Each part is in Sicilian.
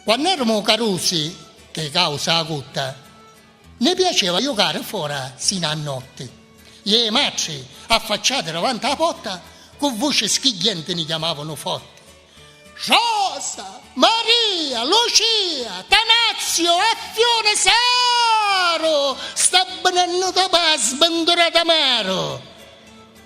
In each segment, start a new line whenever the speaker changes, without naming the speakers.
Quann'erumu carusi, ch'è causa 'a cutta, nni piaceva jucari fora sinu a notti. Ie matri, affacciati davanti 'a potta, cu vuci schigghienti ni chiamavanu forti, Rosa! Maria! Lucia! Tanazio! Affiuni! Saru! Sta bnennuta p'à sbnturata maru!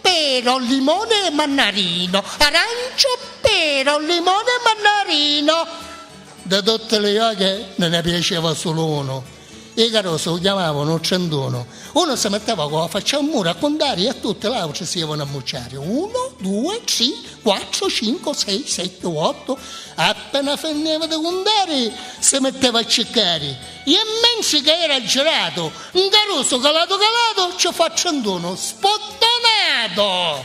pero, limone e mannarino, arancio, pero, limone e mannarino. De tutti li jochi ni ne piaceva sulu unu. I carusi u chiamavanu u trentunu. Unu si mitteva cu la facci a muru a cuntari i a tutti l'autri si ivanu a mucciari, uno, due, tri, quattro, cinco, sei, sette, otto, appena finiva di cuntari si mitteva a ciccari. E mmenzi ca era aggiratu, 'ncarusu calatu calatu, ci fu a trentunu sputtonatu!